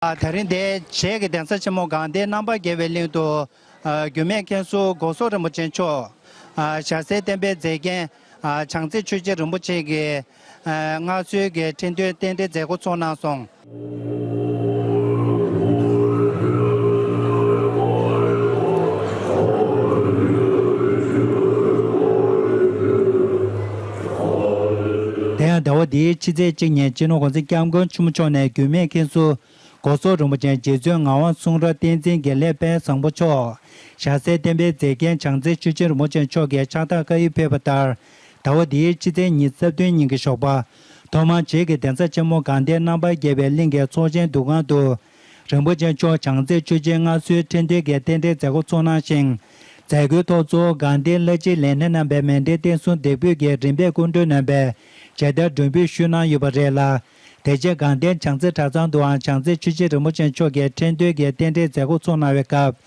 དེ་རིང་འདི་བྱེས་ཀྱི་གདན་ས་ཆེན་མོ་གངས་ཏི་རྣམ་པར་རྒྱལ་བའི་གླིང་དུ། འགྱུར་མེད་མཁན་ཟུར་སྒོ་ཟོག་རིན་པོ་ཆེ་མཆོག། ཞྭ་སེར་བསྟན་པའི་མཛེས་རྒྱན་བྱང་རྩེ་ཆོས་རྗེ་རིན་པོ་ཆེ་གིས། མངའ་གསོལ་གྱི་ཁྲི་འདོན་རྟེན་འབྲེལ་མཛད་སྒོ་ཚོགས་གནང་སོང། དེ་ཡང་ཟླ་བ་འདིའི་ཕྱི་ཚེས་གཅིག་ཉིན་སྤྱི་ནོར་གོང་ཚེ་སྐྱབས་མགོན་ཆེན་མོ་མཆོག་ནས་འགྱུར་མེད་མཁན་ཟུར་སྒོ་ཟོག་རིན་པོ་ཆེན་རྗེ་བཙུན་ངག་དབང་གསུང་རབ་བསྟན་འཛིན་དགེ་ལེགས་དཔལ་བཟང་པོ་མཆོག་ཞྭ་སེར་བསྟན་པའི་མཛེས་རྒྱན་བྱང་རྩེ་ཆོས་རྗེ་རིན་པོ་ཆེ་མཆོག་གིས་ཕྱག་རྟགས་བཀའ་ཡིག་ཕེབས་པ་ལྟར་ཟླ་བ་འདིའི་ཕྱི་ཚེས་ཉིན་རྩ་བདུན་ཉིན་གྱི་ཞོགས་པ། ཐོག་མར་བྱེས་ཀྱི་གདན་ས་ཆེན་མོ་དགའ་ལྡན་རྣམ་པར་རྒྱལ་བའི་གླིང་གི་ཚོགས་ཆེན་འདུ་ཁང་དུ་རིན་པོ་ཆེ་མཆོག་བྱང་རྩེར་ཆོས་རྗེ་མངའ་གསོལ་ཕྲན་བདེ་དགའི་རྟེན་འབྲེལ་མཛད་སྒོ་གཙོ་གནང་ཞིང། མཛད་སྒོའི་ཐོག་གཙོ་བོ་དགའ་ལྡན་བླ་སྤྱིའི་ལས་སྣེ་རྣམ་པའི་མན་འདྲེན་བསྟན་སྲུང་སྡེ་དཔོན་གྱིས་རིམ་པས་སྐུ་མགྲོན་རྣམ་པའི་མཇལ་དར་སྒྲོན་འབུལ་ཞུས་གནང་ཡོད་པ་རེད་ལ། དེ་རྗེས་དགའ་ལྡན་བྱང་རྩེ་གྲྭ་ཚང་དུའང་བྱང་རྩེར་ཆོས་རྗེ་རིན་པོ་ཆེ་མཆོག་གིས་ཕྲན་བདེ་དགའི་རྟེན་འབྲེལ་མཛད་སྒོ་གཙོ་གནང་བའི་སྐབས།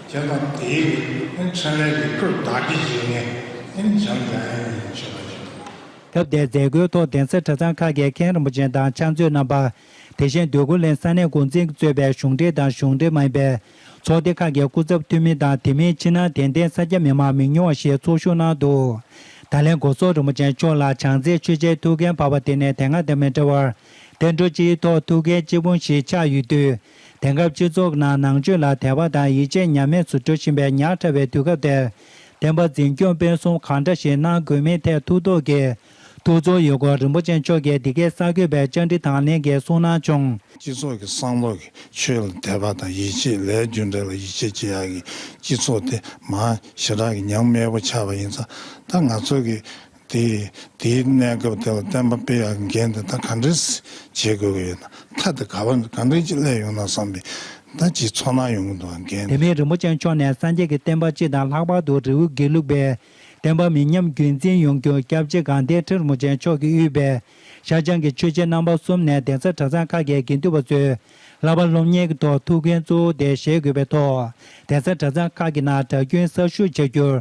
དེ་དང་དེའི་རིགས་ཨིན་ཚོན་ལའི་རིགས་དྲུག་བདག་གི་རྗེས་ནས་ཨིན་འཇམ་དབྱངས་ཡིན་ཞེས་པ་བྱུང། སྐབས་དེར་མཛད་སྒོའི་ཐོག་གདན་ས་གྲྭ་ཚང་ཁག་གི་མཁན་རིན་པོ་ཆེ་དང་ཕྱག་མཛོད་རྣམ་པ། དེ་བཞིན་སྡོད་གུར་ལེན་ས་གནས་འགོ་འཛིན་གྱིས་གཙོས་པའི་གཞུང་འབྲེལ་དང་གཞུང་འབྲེལ་མ་ཡིན་པའི་ཚོགས་སྡེ་ཁག་གི་སྐུ་ཚབ་འཐུས་མི་དང་དེ་མིན་ཕྱི་ནང་དད་ལྡན་ས་སྐྱ་མི་མང་མི་ཉུང་བ་ཞིག་ཚོགས་ཞུགས་གནང་འདུག་ད་ལན་སྒོ་ཟོག་རིན་པོ་ཆེ་མཆོག་ལ་བྱང་རྩེའི་ཆོས་རྗེའི་ཐུགས་འགན་བབས་པ་དེ་ནི་དེ་སྔ་དང་མི་འདྲ་བར་གདན་དྲོ་སྤྱིའི་ཐོག་ཐུགས་འགན་གཅིག་པུ་ཞིག་ཆགས་ཡོད་དུས་དེང་སྐབས་སྤྱི་ཚོགས་ནང་ནང་ཆོས་ལ་དད་པ་དང་ཡིད་ཆེས་ཉམས་དམས་སུ་འགྲོ་བཞིན་པའི་ཉག་ཕྲ་བའི་དུས་སྐབས་དེར། བསྟན་པ་འཛིན་སྐྱོང་སྤེལ་གསུམ་གང་འདྲ་ཞིག་གནང་དགོས་མིན་ཐད་ཐུགས་དོགས་ཀྱིས། ཐུགས་ཚོར་ཡོད་སྐོར་རིན་པོ་ཆེ་མཆོག་གིས་འདི་གའི་གསར་འགོད་པའི་བཅར་འདྲི་དང་ལེན་གྱིས་གསུངས་གནང་བྱུང། སྤྱི་ཚོགས་ཀྱི་བསམ་བློ་གིས་ཆོས་ལ་དད་པ་དང་ཡིད་ཆེས་ལས་རྒྱུ་འབྲས་ལ་ཡིད་ཆེས་བྱེད་ཡག་གི་སྤྱི་ཚོགས་དེ་མང་ཞེ་དྲག་གི་ཉམས་དམས་པོ་ཆགས་པ་ཡིན་ཙང་ད་ང་ཚོ་གི་དེས་དེའི་གནས་སྐབས་དེ་ལ་བསྟན་པ་སྤེལ་ཡག་མཁན་དེ་དག་ག་འདྲས་བྱེད་དགོས་ཀྱི་ཡོད་དམ་མཐའ་དེ་ག་བ་ག་འདྲས་ཀྱི་སླད་ཡོང་ན་བསམ་པའི་ད་ཅིའི་ཚོར་སྣང་ཡོང་གི་འདུག་ཨང་རྒན། དེ་མིན་རིན་པོ་ཆེ་མཆོག་ནས་སངས་རྒྱས་ཀྱི་བསྟན་པ་སྤྱི་དང་ལྷག་པར་དུ་རི་བོའི་དགེ་ལུགས་པའི་བསྟན་པ་མི་ཉམས་རྒྱུན་འཛིན་ཡོང་རྒྱུར་སྐྱབས་རྗེ་གང་བདེ་ཁྲི་རིན་པོ་ཆེ་མཆོག་གིས་དབུས་པའི་ཤར་བྱང་གི་ཆོས་རྗེ་རྣམ་པ་གསུམ་ནས་གདན་ས་གྲྭ་ཚང་ཁག་གི་དགེ་འདུན་པ་ཚོས་བསླབ་པ་སློབ་གཉེར་གྱི་ཐོག་ཐུགས་འགན་གཙོ་བོ་དེ་བཞེས་དགོས་པའི་ཐོག་གདན་ས་གྲྭ་ཚང་ཁག་གི་ནང་གྲྭ་རྒྱུན་གསར་ཞུགས་བྱ་རྒྱུར་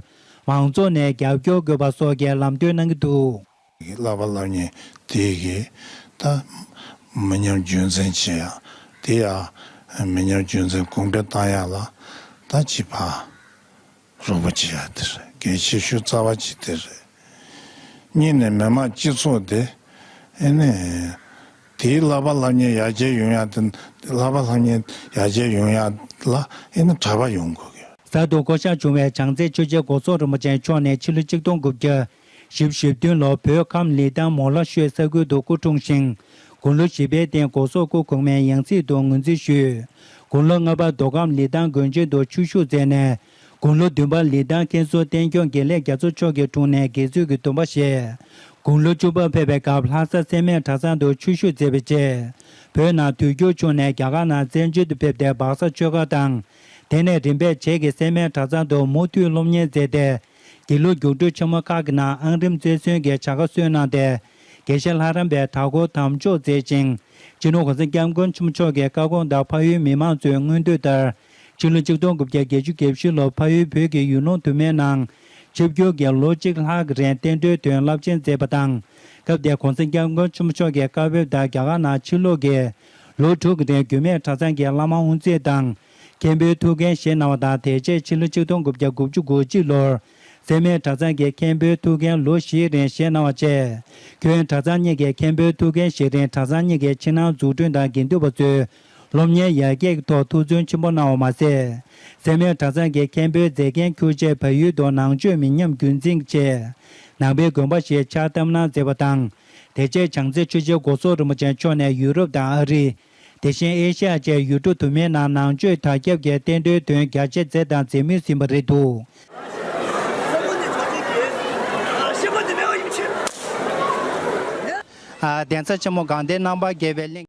མང་ཚོགས་ནས་རྒྱབ་སྐྱོར་དགོས་པ་སོགས་ཀྱི་ལམ་སྟོན་གནང་གི་འདུག། གི་བསླབ་པ་བསླབ་ཉེན་དེ་གི་ད་མི་ཉམས་རྒྱུན་འཛིན་བྱེད་ཡག་དེ་ཡག་མི་ཉམས་རྒྱུན་འཛིན་གོང་འཕེལ་བཏང་ཡག་ལ་ད་བྱིས་པ་རོགས་པ་བྱེད་ཡག་དེ་རེད་གལ་ཆེ་ཤོས་རྩ་བ་གཅིག་དེ་རེད་གཉིས་ནས་མི་དམངས་སྤྱི་ཚོགས་དེ་ནི། དེའི་བསླབ་པ་ལྷ་མཉེན་ཡར་རྒྱས་ཡོང་ཡག་དེ་བསླབ་པ་ལྷ་མཉེན་ཡར་རྒྱས་ཡོང་ཡག་ལ་ཨེ་ན་གྲྭ་པ་ཡོང་དགོས་གི། གསར་དུ་བསྐོ་གཞག་བྱུང་བའི་བྱང་རྩེ་ཆོས་རྗེ་སྒོ་ཟོག་རིན་པོ་ཆེ་མཆོག་ནས་ཕྱི་ལོ་གཅིག་སྟོང་དགུ་བརྒྱ། བཞི་བཞི་བདུན་ལོར་བོད་ཁམས་ལི་ཐང་མོ་ལྷ་ཤོད་ས་ཁུལ་དུ་སྐུ་འཁྲུངས་ཤིང། དགུང་ལོ་བཞི་པའི་སྟེང་སྒོ་ཟོག་སྐུ་གོང་མའི་ཡང་སྲིད་དུ་ངོས་འཛིན་ཞུས། དགུང་ལོ་ལྔ་པར་མདོ་ཁམས་ལི་ཐང་དགོན་ཆེན་དུ་ཆོས་ཞུགས་མཛད་ནས་དགུང་ལོ་བདུན་པར་ལི་ཐང་ཀན་སུའུ་བསྟན་སྐྱོང་དགེ་ལེགས་རྒྱ་མཚོ་མཆོག་གི་དྲུང་ནས་དགེ་ཚུལ་གྱི་འདུན་པ་བཞེས། དགུང་ལོ་བཅུ་པར་ཕེབས་པའི་སྐབས་ལྷ་ས་སེར་སྨད་གྲྭ་ཚང་དུ་ཆོས་ཞུགས་མཛད་པའི་རྗེས། བོད་ནང་དུས་འགྱུར་བྱུང་ནས་རྒྱ་གར་ནང་བཙན་བྱོལ་དུ་ཕེབས་ཏེ་སྦག་ས་ཆོས་སྒར་དང། དེ་ནས་རིམ་པས་བྱེས་ཀྱི་སེར་སྨད་གྲྭ་ཚང་དུ་མུ་མཐུད་སློབ་གཉེར་མཛད་དེ། དགེ་ལུགས་རྒྱུགས་སྤྲོད་ཆེན་མོ་ཁག་གི་ནང་ཨང་རིམ་རྩེར་སོན་གྱི་བྱ་དགའ་སོས་གནང་སྟེ། དགེ་བཤེས་ལྷ་རམས་པའི་དར་སྐོར་དམ་འཇོག་མཛད་ཅིང། སྤྱི་ནོར་ཧོར་སེང་སྐྱབས་མགོན་ཆེན་མོ་མཆོག་གི་བཀའ་དགོངས་ལྟར་ཕ་ཡུལ་མི་མང་ཚོའི་མངོན་འདོད་ལྟར། སྤྱི་ལོ་ཆིག་སྟོང་དགུ་བརྒྱ་བརྒྱད་ཅུ་གྱ་བཞི་ལོར་ཕ་ཡུལ་བོད་ཀྱི་ཡུལ་ལུང་དུ་མའི་ནང། ཆིབས་བསྒྱུར་གྱིས་ལོ་གཅིག་ལྷག་རིང་བསྟན་འགྲོའི་དོན་རླབས་ཆེན་མཛད་པ་དང། སྐབས་དེར་གོང་ས་སྐྱབས་མགོན་ཆེན་པོ་མཆོག་གིས་བཀའ་བབས་ལྟར་རྒྱ་གར་ནང་ཕྱིར་ལོག་གིས། ལོ་དྲུག་གི་རིང་འགྱུར་མེད་གྲྭ་ཚང་གི་བླ་མ་དབུ་མཛད་དང། མཁན་པོའི་ཐུགས་འགན་བཞེས་གནང་བ་དང་དེ་རྗེས་ཕྱི་ལོ་ཆིག་སྟོང་དགུ་བརྒྱ་དགུ་བཅུ་དགུ་གཅིག་ལོར། སེར་སྨད་གྲྭ་ཚང་གི་མཁན་པོའི་ཐུགས་འགན་ལོ་བཞིའི་རིང་བཞེས་གནང་བ་བཅས། ཁྱོན་གྲྭ་ཚང་གཉིས་ཀྱི་མཁན་པོའི་ཐུགས་འགན་བཞེས་རིང་གྲྭ་ཚང་གཉིས་ཀྱི་ཕྱི་ནང་འཛུགས་སྐྲུན་དང་དགེ་འདུན་པ་ཚོའི་སློབ་གཉེར་ཡར་རྒྱས་ཀྱི་ཐོག་ཐུགས་བརྩོན་ཆེན་པོ་གནང་བ་མ་ཟད། སེར་མོའི་གྲྭ་ཚང་གི་མཁན་པོའི་མཛད་འགན་ཁུར་རྗེས་བལ་ཡུལ་དུ་ནང་ཆོས་མི་ཉམས་རྒྱུན་འཛིན་གྱི་ཆེད། ནང་པའི་དགོན་པ་ཞིག་ཕྱག་བཏབ་གནང་མཛད་པ་དང། དེ་རྗེས་བྱང་རྩེ་ཆོས་རྗེ་སྒོ་ཟོག་རིན་པོ་ཆེ་མཆོག་ནས་ཡུ་རོབ་དང་ཨ་རི། དེ་བཞིན་ཨེ་ཤེ་ཡ་བཅས་ཡུལ་གྲུ་དུ་མའི་ནང་ནང་ཆོས་དར་ཁྱབ་ཀྱི་རྟེན་འབྲེལ་དོན་རྒྱ་ཆེ་མཛད་དང་མཛད་མུས་ཟིན་པ་རེད་འདུག། གདན་ས་ཆེན་མོ་དགའ་ལྡན་རྣམ་པར་རྒྱལ་བའི་གླིང།